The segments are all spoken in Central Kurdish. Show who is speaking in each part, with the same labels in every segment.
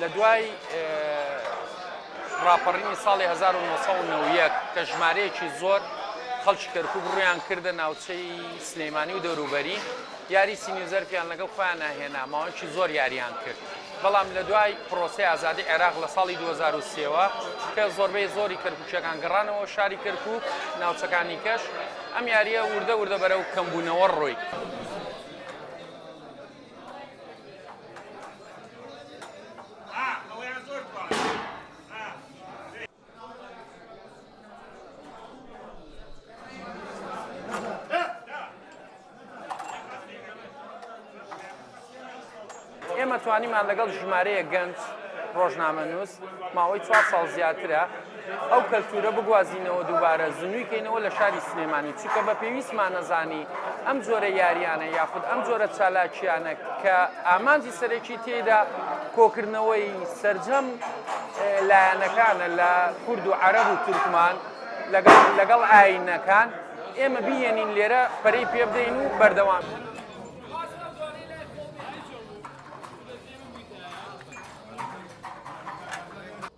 Speaker 1: لە دوای ڕاپەڕینی ساڵی 1990 کە ژمارەیەکی زۆر خەڵکی کەرکک ڕویان کردە ناوچەی سلەیمانی و دەوروبەری یاری سینیزەرفیان لەگەڵ خۆیان ناهێنا ماوەکی زۆر یاریان کرد بەڵام لە دوای پرۆسی ئازادی عێراق لە ساڵی 2023ەوە کە زۆربەی زۆری کەرکوچەکان گەڕانەوە شاری کەرکک ناوچەکانی کەش ئەم یاریە وردە وردە بەرەو کەمبوونەوە ڕۆی. ئێمە توانیمان لەگەڵ ژمارەیە گەنج ڕۆژنامە نووس ماوەی چوار ساڵ زیاترە ئەو کەلتورە بگوازینەوە دووبارە زنوی کەینەوە لە شاری سلێمانی چکە بە پێویستمانەزانی ئەم جۆرە یاریانە یاخود ئەم جۆرە چالاکیانە کە ئامانجی سەرەکی تێدا کۆکردنەوەی سرجەم لایەنەکانە لە کورد و عرب و تورکمان لەگەڵ لەگەڵ ئاینەکان ئێمە بیێنین لێرە پەری پێ بدەین و بەردەوام.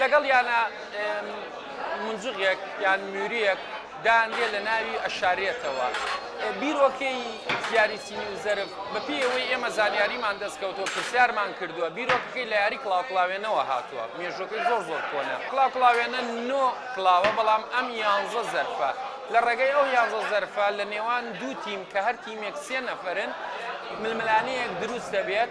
Speaker 1: لەگەڵ یانە مونجغێک یان موریەک دانرێت لە ناوی ئەشارێتەوە بیرۆکەی زیاری سینی و زەرف بەپی ئەوەی ئێمە زانیاریمان دەستکەوتەوە پرسیارمان کردووە بیرۆکەکەی لە یاری کلااوکلااوێنەوە هاتووە مێژۆکەی زۆر زۆر کۆنە کلااوکلااوێنە نۆ کلاوە بەڵام ئەم یانزە زەرفە لە ڕێگەی ئەو یانزە زەرفە لە نێوان دوو تیم کە هەر تیمێک سێ نەفرن ململانەیەک دروست دەبێت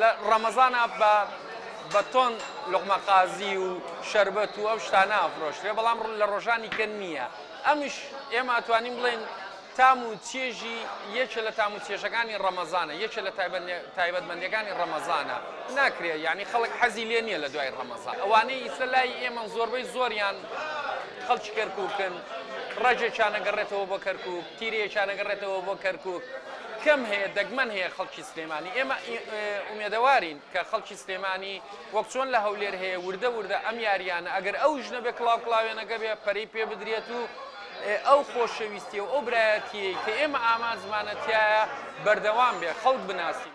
Speaker 1: لە ڕەمەزانا بە بە تۆن لوقمە قازی و شەربەت و ئەو شتانە ئەفرۆشرێ بەڵام ڕ لە ڕۆژانی کە نییە ئەمیش ئێمە ئەتوانین بڵێن تام و چێژی یەکێ لە تام و چێژەکانی ڕەمەزانە یەکێ لە تایبەتمەندەکانی ڕەمەزانە ناکرێت یعنی خەڵک حەزی لێ نییە لە دوای ڕەمەزان ئەوانەی ئیسە لای ئێمە زۆربەی زۆریان خەڵکی کەرککن ڕێژێکیانەگەڕێتەوە بۆ کەرکک تیرەیەکیانەگەڕێتەوە بۆ کەرکک کەم هەیە دەگمەن هەیە خەڵکی سلێمانی ئێمە ئومێدەوارین کە خەڵکی سلێمانی وەک چۆن لە هەولێر هەیە وردە وردە ئەم یاریانە ئەگەر ئەو ژنە بێ کڵاو کڵاوێنەکە بێ پەری پێ بدرێت و ئەو خۆشەویستی و ئەو برایەتیەی کە ئێمە ئامانجمانەتیایە بەردەوام بێ خەڵک بناسین.